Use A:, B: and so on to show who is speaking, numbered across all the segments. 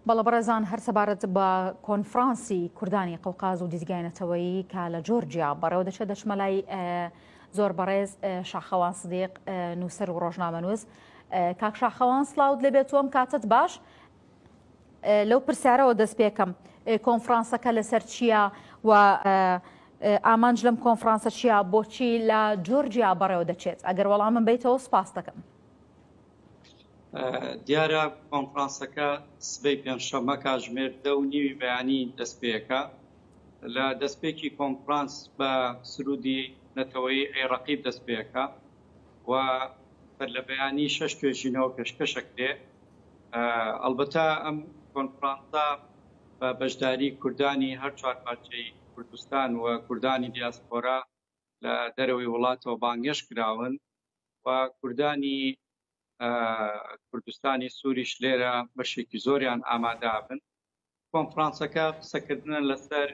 A: بەڵە بەڕێزان هەر سەبارەت بە کۆنفرانسی کوردانی قەوقاز و دیزگای نەتەوەیی کە لە جۆرجیا بەڕێوە دەچێت دەچمە لای زۆر بەڕێز شاخەوان سدیق نووسەر و ڕۆژنامەنووس کاک شاخەوان سلااوت لەبێت تۆم کاتت باش لەو پرسیارەوە دەست پێکەم کۆنفرانسەکە لەسەر چییە و ئامانج لەم کۆنفرانسە چییە بۆچی لە جۆرجیا بەڕێوە دەچێت ئەگەر وەڵامم بیتەوە سپاس دەکەم.
B: دیارە کۆنفرانسەکە سبەی پێنجشەممە کاژمێر دە و نیوی بەیانی دەستپێکە لە دەستپێکی کۆنفرانس بە سرودی نەتەوەی عێڕقی دەستپێکە و بەر لە بەیانی شەش توێژینەوە پێشکەشەکرێ ئەلبەتا ئەم کۆنفرانسە بە بەشداری کوردانی هەر چوار پارچەی کوردستان و کوردانی دیاسپۆرا لە دەرەوەی وڵاتەوە بانگێش کراون و کوردانی کوردستانی سووریش لێرە بەشێکی زۆریان ئامادابن کۆنفرانسەکە قسەکردنە لەسەر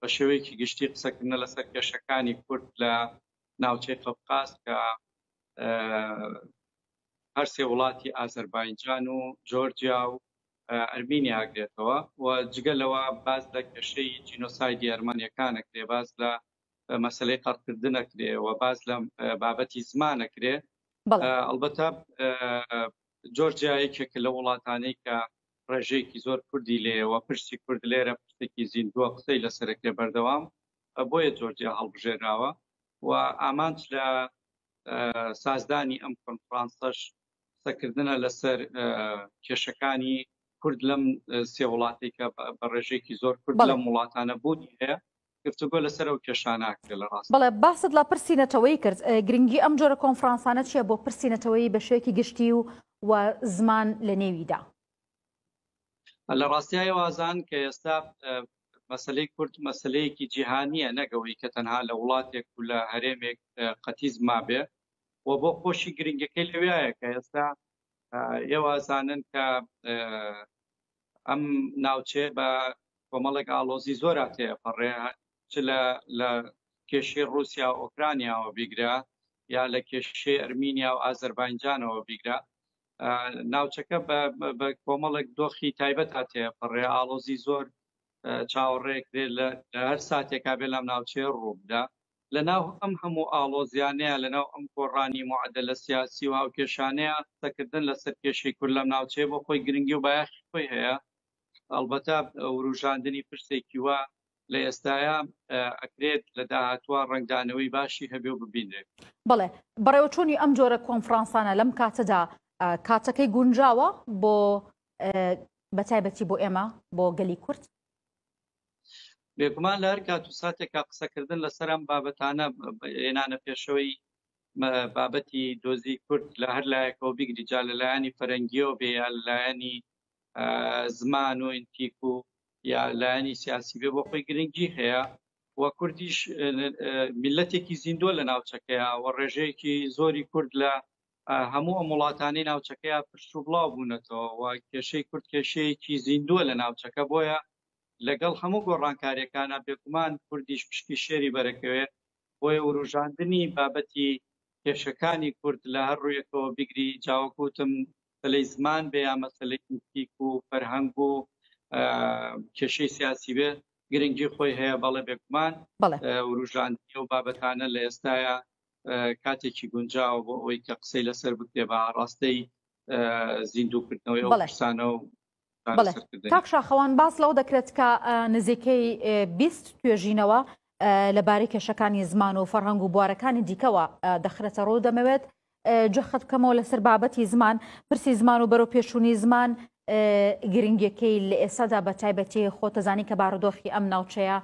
B: بە شێوەیەکی گشتی قسەکردنە لەسەر کێشەکانی کورد لە ناوچەی قەفقاز کە هەرسێ وڵاتی ئازەربایجان و جۆرجیا و ئەرمینی ئاگرێتەوە و جگە لەوە باز لە کێشەی جینۆسایدی ئەرمانیەکانە کرێ باز لە مەسەلەی قەرکردن ئەکرێ و باز لە بابەتی زمان ئەکرێ ئەڵبەتە جۆرجیا یەکێکە لە وڵاتانەی کە ڕێژەیەکی زۆر کوردی لێەوە پرسی کورد لێرە پرسێکی زیندووە قسەی لەسەرەکرێ بەردەوام بۆیە جۆرجیا هەڵبژێراوە و ئامانج لە سازدانی ئەم کۆنفرانسەش قسەکردنە لەسەر کێشەکانی کورد لەم سێ وڵاتێکە بە ڕێژێکی زۆر کورد لەم وڵاتانە بوونی هەیە گفتوگۆ لەسەر ئەو کێشانە ئەکرێت لە ڕاست. بەڵێ باست لە پرسی
A: نەتەوەیی کرد، گرنگی ئەم جۆرە کۆنفرانسانە چییە بۆ پرسی نەتەوەیی بە شێوەیەکی گشتی و و زمان لە نێویدا؟
B: لە ڕاستیا ئێوە ئازان کە ئێستا مەسلەی کورد مەسلەیەکی جیهانییە نەک ئەوەی کە تەنها لە وڵاتێک و لە هەرێمێک قەتیس مابێ و بۆ خۆشی گرنگەکەی لەوێیە کە ئێستا ئێوە ئازانن کە ئەم ناوچەیە بە کۆمەڵێک ئاڵۆزی زۆرا تێپەڕێ چ لە لە کێشەی ڕوسیا و ئۆکرانیاوە بیگرە یا لە کێشەی ئەرمینیا و ئازەربانجانەوە بیگرە ناوچەکە بە کۆمەڵێک دۆخی تایبەت هاتێ پڕێ ئاڵۆزی زۆر چاوەڕێکرێت لە هەر ساتێکا بێ لەم ناوچەیە ڕووبدا لە ناو ئەم هەموو ئاڵۆزیانەیا، لە ناو ئەم گۆڕانی موعەدەلە سیاسی و هاوکێشانەیا، قسە کردن لە سەر کێشەی کورد لەم ناوچەیە بۆ خۆی گرنگی و بایەخی خۆی هەیە. ئەڵبەتە ورووژاندنی پرسێکی وا لە ئێستایا ئەکرێت لە داهاتووا ڕەنگدانەوەی باشی هەبێ و ببینرێت. بەڵێ،
A: بەڕێوەچوونی ئەم جۆرە کۆنفڕانسانە لەم کاتەدا کاتەکەی گونجاوە بۆ بە تایبەتی بۆ ئێمە، بۆ گەلی کورد؟ بێگومان
B: لە هەر کات و ساتێکا قسەکردن لەسەر ئەم بابەتانە هێنانە پێشەوەی بابەتی دۆزی کورد لە هەر لایەکەوە بگری جا لە لایەنی فەرەنگیەوە بێ یا لایەنی زمان و ئینتیک و یا لایەنی سیاسی بێ بۆ خۆی گرنگی هەیە و کوردیش میلەتێکی زیندوە لە ناوچەکەیە و ڕێژەیەکی زۆری کورد لە هەموو ئەم وڵاتانی ناوچەکەیە پشت و بڵاو بوونەتەوە و کێشەی کورد کێشەیەکی زیندووە لە ناوچەکە بۆیە لەگەڵ هەموو گۆڕانکاریەکانا بێگومان کوردیش پشکی شێری بەرەکەوێ بۆیە وروژاندنی بابەتی کێشەکانی کورد لە هەر ڕویەکەوە بیگری جا وەک وتم مەسەلەی زمان بێ یا مەسەلەی ئیتیک و فەرهەنگ و کێشەی سیاسی بێ گرنگی خۆی هەیە بەڵێ بێگومان وروژاندنی و بابەتانە لە ئێستاە کاتێکی گونجاوە بۆ ئەوەی کە قسەی لەسەر بکرێ بە ئاڕاستەی زیندووکردنەوەی ئەو قسانە و بەڵێ کاک
A: شاخەوان باس لەوە دەکرێت کە نزیکەی بیست توێژینەوە لەبارەی کێشەکانی زمان و فەرهەنگ و بوارەکانی دیکەوە دەخرێتە ڕوو دەمەوێت جەخت بکەمەوە لەسەر بابەتی زمان پرسی زمان و بەرەو پێشووی زمان گرنگەکەی لە ئێستادا بە تایبەتی خۆتەزانی کە بارودۆخی ئەم ناوچەیە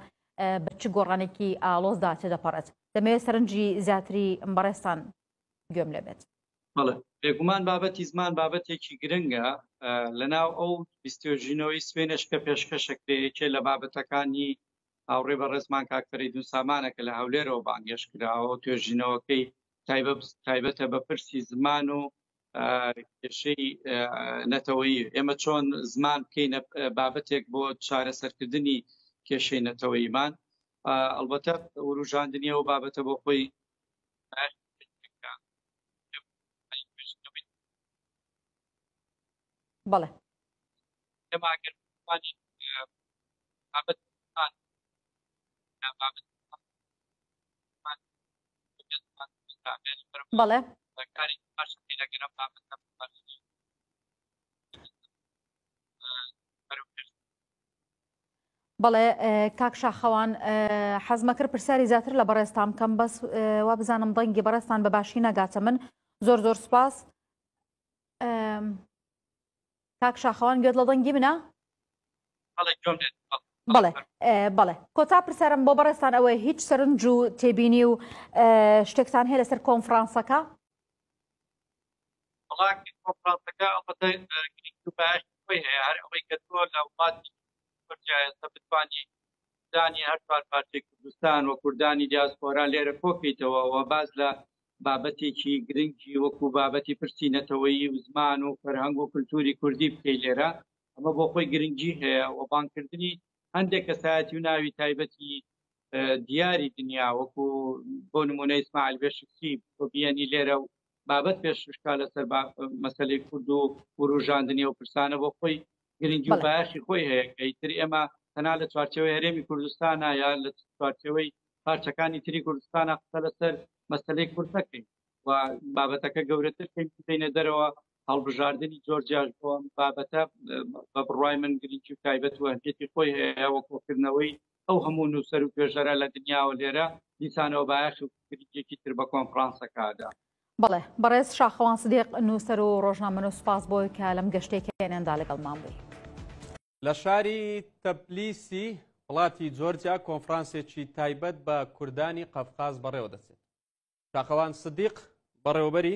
A: بە چ گۆڕانێکی ئالۆزدا تێدەپەڕێت دەمەوێت سەرنجی زیاتری بەڕێستان گوێم لێ بێت. بەڵێ بێگومان
B: بابەتی زمان بابەتێکی گرنگە لەناو ئەو بیستۆژینەوەی سوێنش کە پێشکەشەکرێ یەکێ لە بابەتەکانی هاوڕێ بە ڕێزمان کاکتەری دووسامانە کە لە هەولێرەوە بانگێش کراوە توێژینەوەکەی تایبەتە بە پرسی زمان و کێشەی نەتەوەی ئێمە چۆن زمان بکەینە بابەتێک بۆ چارەسەرکردنی کێشەی نەتەوەیمان ئەلبەتە وروژاندنیەوە بابەتە بۆ خۆی بەڵێ بەڵێ
A: بەڵێ کاک شاخەوان حەزمەکرد پرسیاری زیاتر لە بەڕێستان بکەم بەس وا بزانم دەنگی بەڕێستان بە باشی نەگاتە من زۆر زۆر سپاس کاک شاخەوان گوێت لە دەنگی منە بڵێ بڵێ کۆتا پرسیارم بۆ بەڕێستان ئەوەی هیچ سەرنج و تێبینی و شتێکتان هەیە لەسەر کۆنفرانسەکە
B: بەڵاکەی کۆنفرانسەکە ئەڵبەتە گرنگی و بایەشی خۆی هەیە، هەر ئەوەی کە تۆ لە وڵاتی زۆر جیاێستا بتوانی کوردانی هەر چوار پارچەی کوردستان و کوردانی دیاسپۆرا لێرە کۆکەیتەوە و باز لە بابەتێکی گرنگی وەکو بابەتی پرسی نەتەوەیی و زمان و فەرهەنگ و کللتوری کوردی بکەی لێرە ئەمە بۆ خۆی گرنگی هەیە و بانکردنی هەندێک کەسایەتی و ناوی تایبەتی دیاری دنیا وەکو بۆ نمونە ئیسماعیل بێشکسی بۆ بیانی لێرە و بابەت پێش شکا لەسەر مەسلەی کورد و وروژاندنی و پرسانە بۆ خۆی گرنگی و باشی خۆی هەیە ئەیتر ئێمە تەنا لە چوارچەوەی هەرێمی کوردستانە یا لە چوارچەوەی پارچەکانی تری کوردستانە قسە لەسەر مەسلەی کورد نەکەین و بابەتەکە گەورەتر پێینە دەرەوە هەڵبژاردننی جۆرجیاش بۆم بابەتە بە بڕای من گرنگی و تایبەت وهجێتی خۆی هەیە وەکۆکردنەوەی ئەو هەموو نووسەر و توێژەرە لە دنیاوە لێرە دیسانەوە بایەخ و گرنگیەکی تر بە کۆنفرانسەکە ئەدا. بەڵێ
A: بەڕێز شاخەوان سدیق نووسەر و ڕۆژنامەنووس سوپاس بۆی کە لەم گەشتەی کێنێن دا لەگەڵمان بووی. لە
C: شاری تبلیسی وڵاتی جۆرجیا کۆنفرانسێکی تایبەت بە کوردانی قەفقاز بەڕێوەدەچێت. شاخەوان سدیق بەڕێوەبەری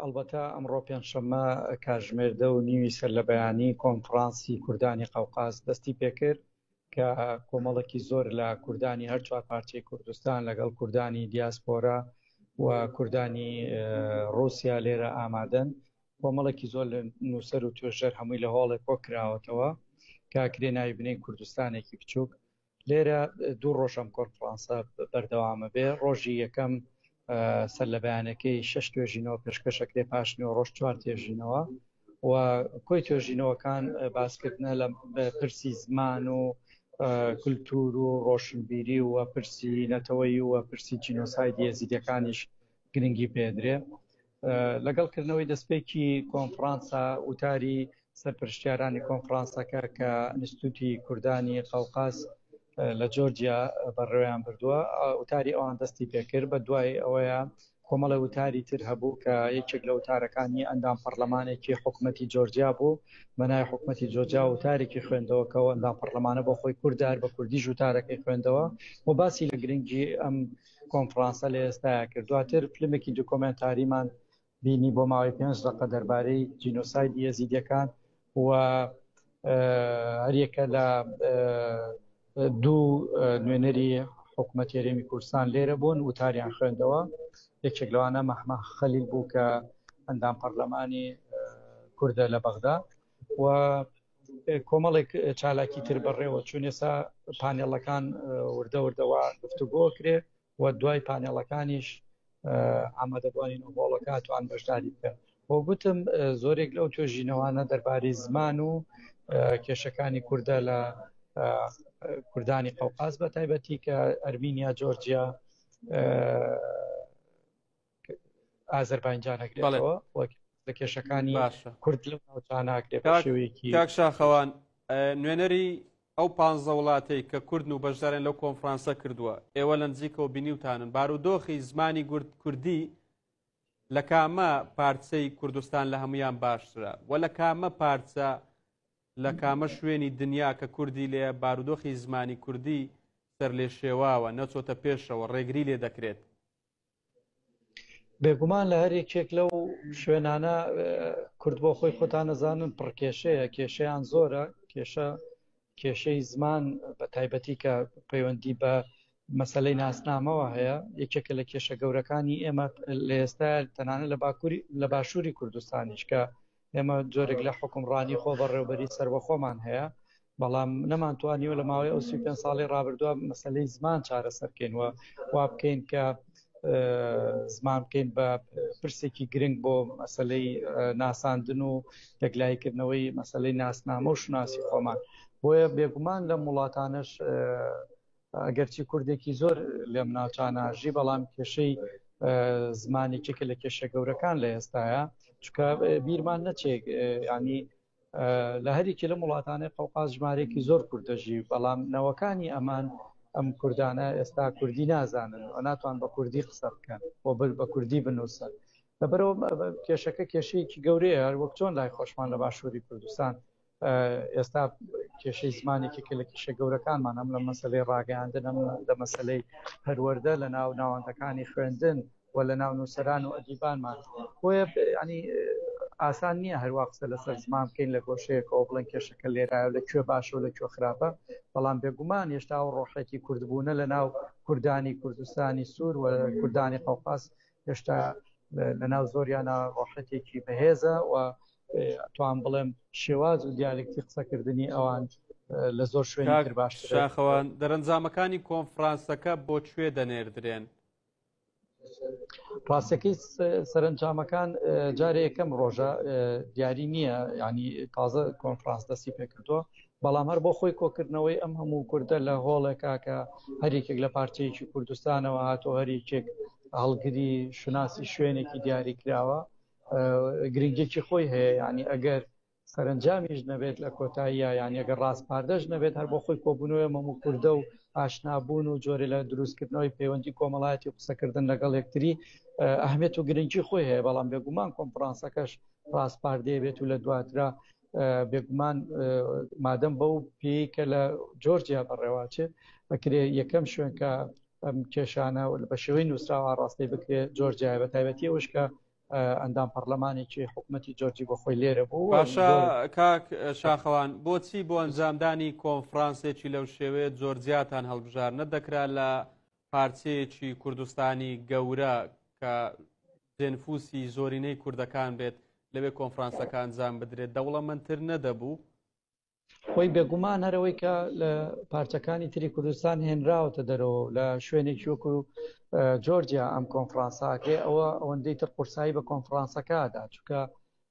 D: ئەڵبەتە ئەمڕۆ پێنجشەممە کاژمێر دە و نیوی سەر لە بەیانی کۆنفرانسی کوردانی قەوقاز دەستی پێکرد کە کۆمەڵێکی زۆر لە کوردانی هەر چوار پارچەی کوردستان لەگەڵ کوردانی دیاسپۆرە و کوردانی رووسیا لێرە ئامادەن کۆمەڵێکی زۆر لە نووسەر و توێژەر هەمووی لە هۆڵێک کۆ کراوەتەوە کاکرێ ناوی بنین کوردستانێکی بچووک لێرە دوو ڕۆژ ئەم کۆنفرانسە بەردەوامە بێ، ڕۆژی یەکەم سەرلەبەیانەکەی شەش توێژینەوە پێشکەش ئەکرێ، پاش نیوەڕۆش چوار توێژینەوە و کۆی توێژینەوەکان باسکردنە لە پرسی زمان و کلتور و ڕۆشنبیری و پرسی نەتەوەیی و پرسی جینۆسایدی ئێزیدیەکانیش گرنگی پێدرێ. لەگەڵ کردنەوەی دەستپێکی کۆنفرانسە وتاری سەرپرشتیارانی کۆنفرانسەکە کە ئەنستوتی کوردانی قەوقاس لە جۆرجیا بەڕێویان بردووە وتاری ئەوان دەستی پێکرد بە دوای ئەوەیە کۆمەڵە وتاری تر هەبوو کە یەکێک لە وتارەکانی ئەندام پەرلەمانێکی حکوومەتتی جۆرجیا بوو بەنای حکوومەتتی جۆجا وتارێکی خوێندەوە کەەوە ئەندام پەرلەمانە بۆ خۆی کوردار بە کوردی ژوتارەکەی خوێندەوە و باسی لە گرنگی ئەم کۆنفرانسە لە ئێستایا کرد دواتر فلمێکی دکۆمێنتاریمان بینی بۆ ماوەی پێنج دەقە دەربارەی جینۆساید یەزیدەکان و هەریەکە لە دوو نوێنەری حکوومەت هێرێمی کوردستان لێرە بوون وتاریان خوێندەوە یەکێک لەوانە مەحمە خەلیل بوو کە ئەندام پەرلەمانی کوردە لە بەغدا و کۆمەڵێک چالاکی تر بەڕێوە چون ێسا پانێڵەکان وردە وردەوە گفتوگۆ کرێ و دوای پانێڵەکانیش ئامادەبووانین و هۆڵەکاتوان بەشداری بکەن بۆ گوتم زۆرێک لەو توێژینەوانە دەربارەی زمان و کێشەکانی کووردە لە کوردانی قەوقاز بە تایبەتی کە ئەرمینیا جۆرجیا ئازربایجانەگرێتەوە لە کێشەکانی باشە کورد لە ناوچاناگرێتشێوەیەکی شاخەوان
C: نوێنەری ئەو پ وڵاتەی کە کوردن و بەشدارن لەو کۆنفرانسە کردووە ئێوە لە نزیکەوە بینیوتانن بارودۆخی زمانی گورد کوردی لە کامە پارچەی کوردستان لە هەمویان باشترە و لە کامە پارچە لە کامە شوێنی دنیا کە کوردی لێ بارودۆخی زمانی کوردی سەر لێ شێواوە نەچۆتە پێشەوە ڕێگری لێ دەکرێت
D: بێگومان لە هەر یەکێک لەو شوێنانە کورد بۆ خۆی خۆتان نەزانن پڕکێشەیە کێشیان زۆرە کێشە کێشەی زمان بە تایبەتی کە پەیوەندی بە مەسلەی ناسنامەوە هەیە یەکێکە لە کێشە گەورەکانی ئێمە لە ئێستا تەنانە لە باکووری لە باشووری کوردستانیش کە ئێمە جۆرێک لە حکومڕانی خۆبەڕێوبەری سەربەخۆمان هەیە بەڵام نەمانتوانیوە لە ماوەی ئەو سی پێ ساڵی ڕابردووە مەسلەی زمان چارەسەرکەین وە وا بکەین کە زمان بکەین بە پرسێکی گرنگ بۆ مەسلەی ناساندن و یەکلایکردنەوەی مەسلەی ناسنامە و شناسی خۆمان بۆیە بێگومان لەم وڵاتانش ئەگەرچی کوردێکی زۆر لێم ناچانە ژی بەڵام کێشەی زمانێکێکە لە کێشە گەورەکان لە ئێستاە چکە بیرمان نەچێک ینی لە هەریکی لەم وڵاتانەی قوقاز ژمارێکی زۆر کوردەژی بەڵام نەوەکانی ئەمان ئەم کوردانە ئێستا کوردی نازانن و ناتوان بە کوردی قسە بکەن و بر بە کوردی بنووسن لەبەرەوە کێشەکە کێشەیەکی گەورەیە هەر وەک چۆن لای خۆشمان لە باشووری کوردستان ئێستا کێشەی زمان یەکێکە لە کێشە گەورەکانمان هەم لە مەسەلەی ڕاگەیاندن هەم لە مەسەلەی پەروەردە لە ناو ناوەندەکانی خوێندن و لە ناو نووسەران و ئەدیبانمان بۆیە ینی ئاسان نییە هەروە قسە لەسەر زمان بکەین لە گۆشەیەکەوە بڵێن کێشەکە لێرایە لە کوێ باشە و لە کوێ خراپە بەڵام بێگومان هێشتا و ڕۆحێکی کوردبوونە لە ناو کوردانی کوردستانی سوور و کوردانی قەوقاس هێشتا لە ناو زۆریانە ڕۆحەتێکی بەهێزە و توام بڵێم شێواز و دیالکتی قسەکردنی ئەوان لە زۆر شوێنتر باش شاخەوان
C: دەرەنجامەکانی کۆنفرانسەکە بۆ کوێ دەنێردرێن
D: ڕاستەکەی سەرنجامەکان جارێ یەکەم ڕۆژە دیاری نییە ینی تازە کۆنفرانس دەستی پێکردووە بەڵام هەر بۆ خۆی کۆکردنەوەی ئەم هەموو کوردە لە هۆڵێکا کە هەریکێک لە پارچەیەکی کوردستانەوە هاتۆ هەریکێک هەڵگری شوناسی شوێنێکی دیاری کراوە گرنگێکی خۆی هەیە ینی ئەگەر سەرنجامیش نەبێت لە کۆتاییە یانەگە ڕاستپاردەش نەبێت هەر بۆ خۆی کۆبوونەوە مەمو کوردە و ئاشنابوون و جۆرە لە دروستکردنەوەی پەیوەندی کۆمەڵایەتی و قسەکردن لەگەڵ یەکتری ئەهمێت و گرنگی خۆی هەیە بەڵام بێگومان کۆنفرانسەکەش ڕاستپاردەیە بێت و لە دواترا بێگومان مادەم بەو پێی کە لە جۆرجیا بەڕێواچێت ئەکرێ یەکەم شوێن کە ئەم کێشانە بە شێوەی نووسراوە ڕاستی بکرێت جۆر جای بە تایبەتی ئەوش کە ئەندام پەرلەمانێکی حکوومەتتی جۆرجی بۆ خۆی لێرە بوو باشە کاک
C: شاخەوان بۆچی بۆ ئەنجامدانی کۆنفرانسێکی لەو شێوەیە جۆرجیاتان هەڵبژار نەدەکرا لە پارچەیەکی کوردستانی گەورە کە دێنفوسی زۆرینەی کوردەکان بێت لەوێ کۆنفرانسەکان جام بدرێت دەوڵەمەندتر نەدەبوو خۆی
D: بێگومان هەرەوەی کە لە پارچەکانی تری کوردستان هێنراوەتە دەرەوە لە شوێنێکی وەکو جۆرجیا ئەم کۆنفرانساکرێ ئەوە ئەوەندەی تر قورسایی بە کۆنفرانسەکەدا چکە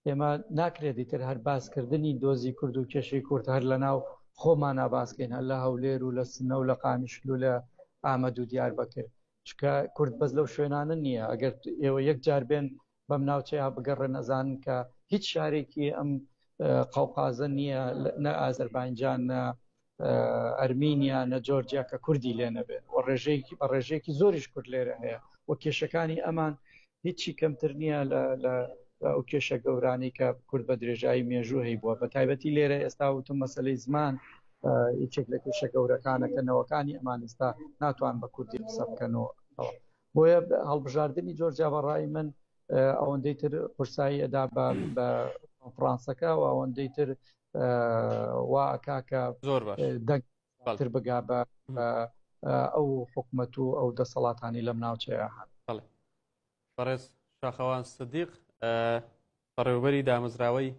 D: ئێمە ناکرێت دیتر هەر باسکردنی دۆزی کورد و کێشەی کورد هەر لە ناو خۆمان ناباسکەین هەر لە هەولێر و لە سنە و لە قامیشل و لە ئامەد و دیار بکرد چکە کورد بەس لەو شوێنانە نییە ئەگەر ئێوە یەک جار بێن بەم ناوچەیە بگەڕێن ئەزانن کە هیچ شارێکی ئەم قەوقازە نییە نە ئازربایجان نە ئەرمینیا نە جۆرجیا کە کوردی لێ نەبێت و ڕێژەیەکی بە ڕێژەیەکی زۆریش کورد لێرە هەیە و کێشەکانی ئەمان هیچی کەمتر نییە لە ئەو کێشە گەورانی کە کورد بە درێژایی مێژوو هەی بووە بە تایبەتی لێرە ئێستا وتم مەسلەی زمان یەکێک لە کێشە گەورەکانەکەنەوەکانی ئەمان ئێستا ناتوان بە کوردی قسە بکەن و بۆیە هەڵبژاردنی جۆرجیا بە ڕای من ئەوەندەی تر قورسایی ئەدا بە کۆنفرانسەکە و ئەوەندەی تر واکا کە زۆر
C: دەنگتر
D: بگا بە ئەو حکومەت و ئەو دەسەڵاتانی لەم ناوچەیە هەن بەڕێز
C: شاخەوان سدیق بەڕێوبەری دامەزراوەی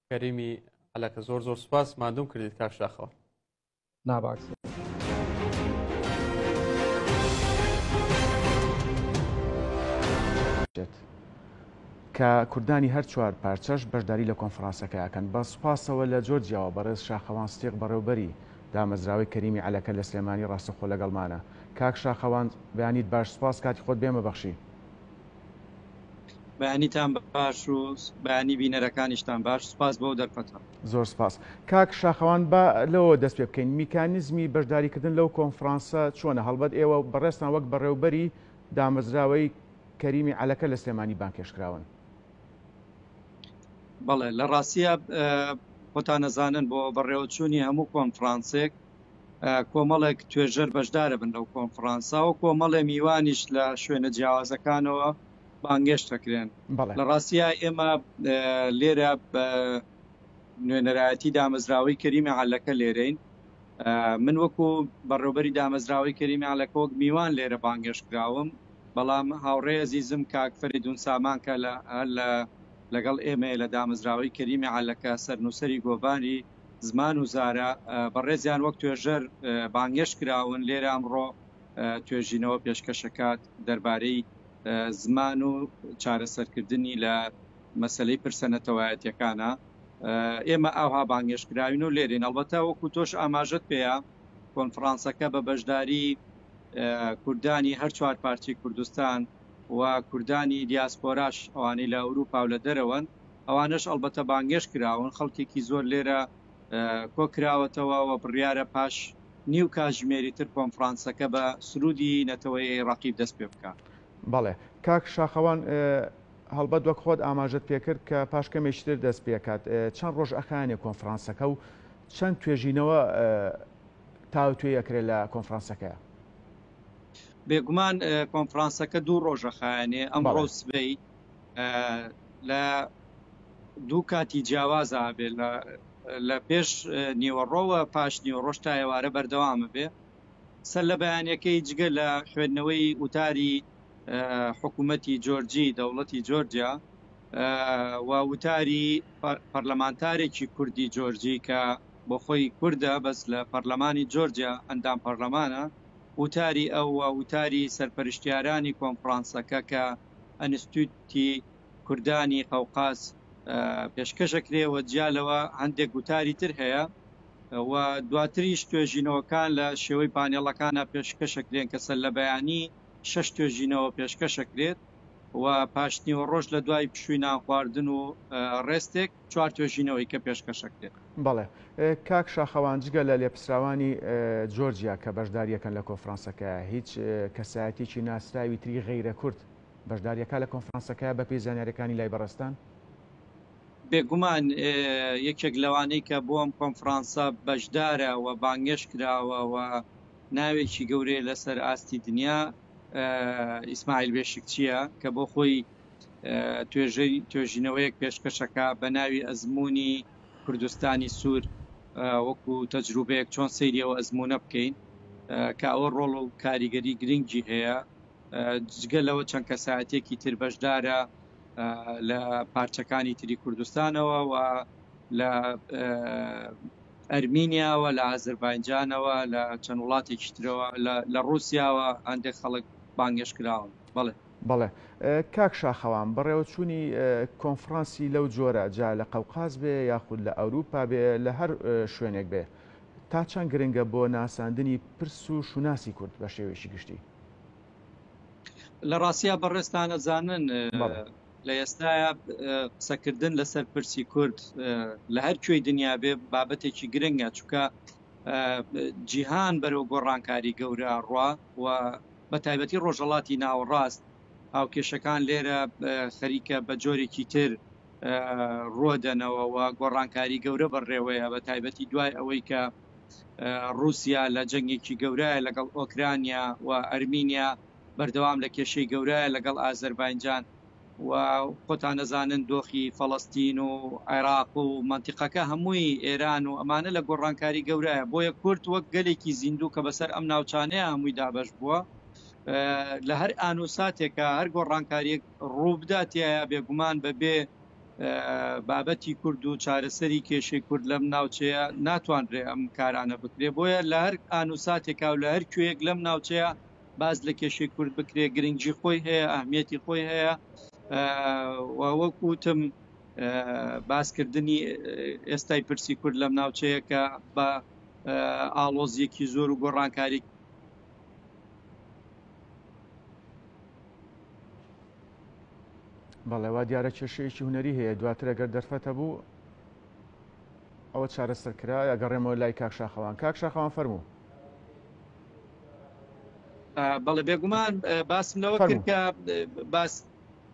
C: کەریمی علاکە زۆر زۆر سپاس مادوم کردیت کاک شاخەوە
D: ناباکسن.
E: کە کوردانی هەر چوار پارچەش بەشداری لە کۆنفرانسەکە ئەکەن بە سوپاسەوە لە جۆرجیاوە بەڕێز شاخەوان ستیق بەڕێوبەری دامەزراوەی کەریمی عەلەکە لە سلێمانی ڕاستەخۆ لەگەڵمانە کاک شاخەوان بەیانیت باش سوپاس کاتی خۆت بێمە بەخشی
B: بەیانیتان باش و بەیانی بینەرەکانیشتان باش سپاس بۆ دەرفەتە زۆر سپاس
E: کاک شاخەوان بە لەوە دەست پێ بکەین میکانیزمی بەشداریکردن لەو کۆنفرانسە چۆنە هەڵبەت ئێوە بەڕێستان وەک بەڕێوبەری دامەزراوەی کەریمی عەلەکە لە سلێمانی بانکێشکراون
B: بەڵێ لە ڕاستە خۆتان نەزانن بۆ بەڕێوەچوونی هەموو کۆنفرانسێک کۆمەڵێک توێژەر بەشدارەبن لەو کۆنفڕانسە و کۆمەڵێ میوانیش لە شوێنە جیاوازەکانەوە بانگێشت دەکرێن. لە ڕاستیا ئێمە لێرە بە نوێنەرایەتی دامەزراوەی کەریمی عەلەکە لێرەین. من وەکو بەڕێوبەری دامەزراوەی کەریمی عەلەکە وەک میوان لێرە بانگێشت کراوم، بەڵام هاوڕێ ئەزیزم کاک فەرێدوون سامان کە لەگەڵ ئێمەیە لە دامەزراوەی کەریمی عەلەکە، سەرنووسەری گۆڤاری، زمان و زارا بەڕێزیان وەک توێژەر بانگێشت کراون، لێرە ئەمڕۆ توێژینەوە پێشکەش ئەکات دەربارەی زمان و چارەسەرکردنی لە مەسەلەی پرسە نەتەوایەتیەکانە. ئێمە ئاوها بانگێشت کراوین و لێرەین. ئەڵبەتە وەکو تۆش ئاماژەت پێیە کۆنفرانسەکە بە بەشداری کوردانی هەر چوار پارچەی کوردستان و کوردانی دیاسپۆراش ئەوانەی لە ئەوروپا و لە دەرەوەن ئەوانەش ئەڵبەتە بانگێشت کراون، خەڵکێکی زۆر لێرە کۆ کراوەتەوە و بڕیارە پاش نیو کاتژمێری تر کۆنفرانسەکە بە سروودی نەتەوەیەی ڕەقیب دەست پێ بکا. بەڵێ. کاک
E: شاخەوان، هەڵبەت وەک خۆت ئاماژەت پێ کرد کە پاش کەمێکی تر دەست پێ کات. چەند ڕۆژ ئەخایەنێ کۆنفرانسەکە و چەند توێژینەوە تاوتوێی ئەکرێ لە کۆنفرانسەکەیا؟
B: بێگومان کۆنفرانسەکە دوو ڕۆژ ئەخایەنێ، ئەمڕۆ و سبەی. لە دوو کاتی جیاوازا ئەبێ لە پێش نیوەڕۆوە پاش نیوەڕۆش تا ئێوارە بەردەوام ئەبێ. سەر لە بەیانەکەی جگە لە خوێندنەوەی وتاری حکوومەتی جۆرجی دەوڵەتی جۆرجیا و وتاری پەرلەمانتارێکی کوردی جۆرجی کە بۆ خۆی کوردە بەس لە پەرلەمانی جۆرجیا ئەندام پەرلەمانە وتاری ئەو وتاری سەرپەرشتیارانی کۆنفرانسەکە کە ئەنستیتوتی کوردانی قەوقاز پێشکەش ئەکرێ و جیا لەوە هەندێک وتاری تر هەیە و دواتریش توێژینەوەکان لە شێوەی پانێڵەکانا پێشکەش ئەکرێن کە سەرلەبەیانی شەش توێژینەوە پێشکەش ئەکرێت و پاشنیوەڕۆش لە دوای پشووی نانخواردن و ڕێستێک چوار توێژینەوەی کە پێشکەشەکرێت. بەڵێ
E: کاک شاخەوان جگە لە لێپسراوانی جۆرجیا کە بەشداریەکەن لە کۆفرانسەکە هیچ کەسایەتێکی ناسراوی تری غیرە کورد بەشداریەکە لە کۆنفرانسەکە بەپی زانیارەکانی لای بەڕستان
B: بێگومان یەکێک لەوانەی کە بۆ ئەم کۆنفرانسە بەشدارە و بانگێش کراوە و ناوێکی گەورەیە لەسەر ئاستی دنیا ئیسماعیل بێشکچیە کە بۆ خۆی توێژەی توێژینەوەیەک پێشکەشەکە بە ناوی ئەزمموی کوردستانی سوور وەکو تەجروبەیەک چۆن سریەوە ئەزمونە بکەین کە ئەوە ڕۆڵ و کاریگەری گرنگی هەیە جگە لەوە چەند کەسایەتێکی تر بەشدارە لە پارچەکانی تری کوردستانەوە و لە ئەرمینیاوە لە ئازربایجانەوە لە چەند وڵاتێکی ترەوە لە ڕوسیاوە هەندێک خەڵک بانگێش کراون بڵێ بەڵێ
E: کاک شاخەوان، بەڕێوەچوونی کۆنفڕانسی لەو جۆرە، جا لە قەوقاز بێ یاخود لە ئەوروپا بێ، لە هەر شوێنێک بێ، تا چەند گرنگە بۆ ناساندنی پرس و شوناسی کورد بە شێوەیەکی گشتی؟
B: لە ڕاستیا بەڕێزتان ئەزانن لە ئێستایا قسەکردن لەسەر پرسی کورد لە هەر کوێی دنیا بێ بابەتێکی گرنگە، چونکە جیهان بەرەو گۆڕانکاری گەورە ئەڕوا و بە تایبەتی ڕۆژهەڵاتی ناوەڕاست هاوکێشەکان لێرە خەریکە بە جۆرێکی تر ڕووە دەنەوە و گۆڕانکاری گەورە بەڕێوەیە بە تایبەتی دوای ئەوەی کە رووسیا لە جەنگێکی گەورایە لەگەڵ ئۆکرانیا و ئەرمینیا بەردەوام لە کێشەی گەورایە لەگەڵ ئازەربایجان و خۆتان دەزانن دۆخی فەڵەستین و عێراق و مەنتیقەکە هەمووی ئێران و ئەمانە لە گۆڕانکاری گەورایە بۆیە کورد وەک گەلێکی زیندوو کە بەسەر ئەم ناوچانەیە هەمووی دابەش بووە لە هەر ئان و ساتێکە هەر گۆڕانکاریەک ڕووبدا تایە بێگومان بەبێ بابەتی کورد و چارەسەری کێشەی کورد لەم ناوچەیە ناتوانرێ ئەم کارانە بکرێ بۆیە لە هەر ئان و ساتێکا و لە هەر کوێیەک لەم ناوچەیە باس لە کێشەی کورد بکرێ گرنگجی خۆی هەیە ئەهمیەتی خۆی هەیە وەک وتم باسکردنی ئێستای پرسی کورد لەم ناوچەیە کە بە ئاڵۆزیەکی زۆر و گۆڕانکاری
E: بەڵێوا دیارە کێشەیەکی هوەری هەیە دواتر ئەگەر دەرفەتە بوو ئەوە چارەسەر کرا ئەگەڕێمەوە لای کاکشاخەوان کاکشاخەوان فەرموو
B: بەڵێ بێگومان باسم لەوە کرد کە باس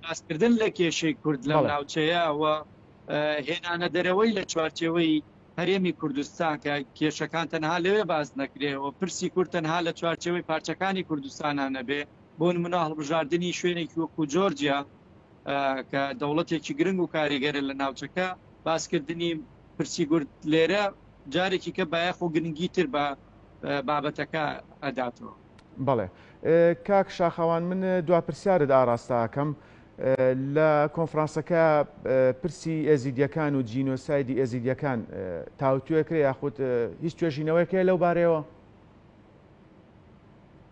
B: باسکردن لە کێشەی کورد لە ناوچەیە و هێنانە دەرەوەی لە چوارچەوەی هەرێمی کوردستان کە کێشەکان تەنها لەوێ باز نەکرێەوە پرسی کورد تەنها لە چوارچەوەی پارچەکانی کوردستانە نەبێ بۆ منە هەڵبژاردننی شوێنێکی وەکو جۆرجیا کە دەوڵەتێکی گرنگ و کاریگەرە لە ناوچەکە باسکردنی پرسی گورد لێرە جارێکی کە بایەخ و گرنگی تر بە بابەتەکە ئەداتەوە. بەڵێ
E: کاک شاخەوان من دوا پرسیارت ئاراستە ئەکەم لە کۆنفرانسەکە پرسی ئێزیدیەکان و جینۆسایدی ئێزیدیەکان تاوتوێکرێ یاخود هیچ توێژینەوەیکەیە لەو بارەیەوە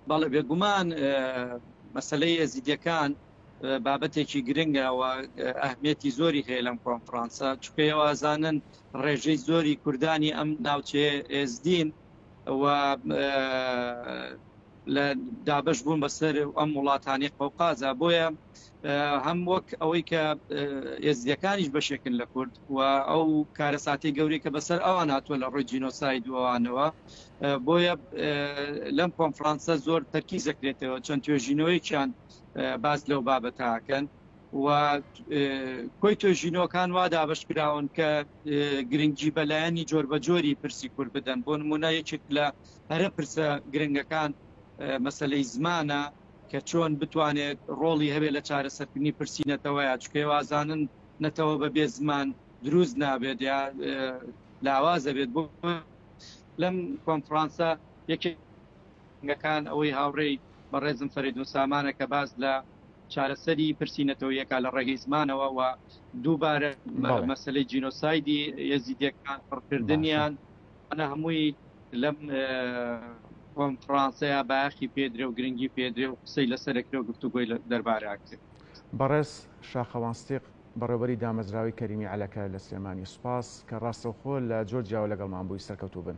B: بەڵێ بێگومان مەسلەی ئێزیدیەکان بابەتێکی گرنگەوە ئەهمێتی زۆری هەیە لەم کۆنفرانسە چکەوە ئازانن ڕێژەی زۆری کوردانی ئەم ناوچەیە ئێزدین و لە دابش بوون بەسەر ئەم وڵاتانی قەوقازە بۆیە هەم وەک ئەوەی کە ئێزیەکانیش بەشێکن لە کورد و ئەو کارەساتی گەورەی کە بەسەر ئەوان هاتووە لە ڕۆی جینۆسای دووانەوە بۆیە لەم کۆنفرانسە زۆر تەرکی زەکرێتەوە چەند توێژینەوەیکیان باز لەو بابەتاکەن و کۆی توێژینەوەکان وا دابەش کراون کە گرنگی بە لایەنی جۆربەجۆری پرسی کورد بدەن بۆ نمونە یەکێک لە هەرە پرسە گرنگەکان مەسلەی زمانە کە چۆن بتوانێت ڕۆڵی هەبێ لە چارەسەرکردنی پرسی نەتەوەیە چکێ وازانن نەتەوە بە بێ زمان دروست نابێت یا لاوازە بێت بۆ لەم کۆنفرانسە یەکێکەکان ئەوەی هاوڕێی بەڕێزم فەرێدون سامانە کە باز لە چارەسەری پرسی نەتەوەیەکە لە ڕێگەی زمانەوە و دووبارە مەسلەی جینۆسایدی یەزیدەکان پڕکردنیان ئەە هەمووی لەم کۆنفرانسەیە باخی پێدرێ و گرنگی پێدرێ و قسەی لەسەرکرێ و گفتوگوۆی دەربارەکرێت بەڕێز
E: شاخەوانستیق بەڕێوەری دامەزراوی کەریمی عەلەکە لە سلێمانی سوپاس کە ڕاستەوخۆ لە جۆر جیاوە لەگەڵمان بووی سەرکەوتوو بن.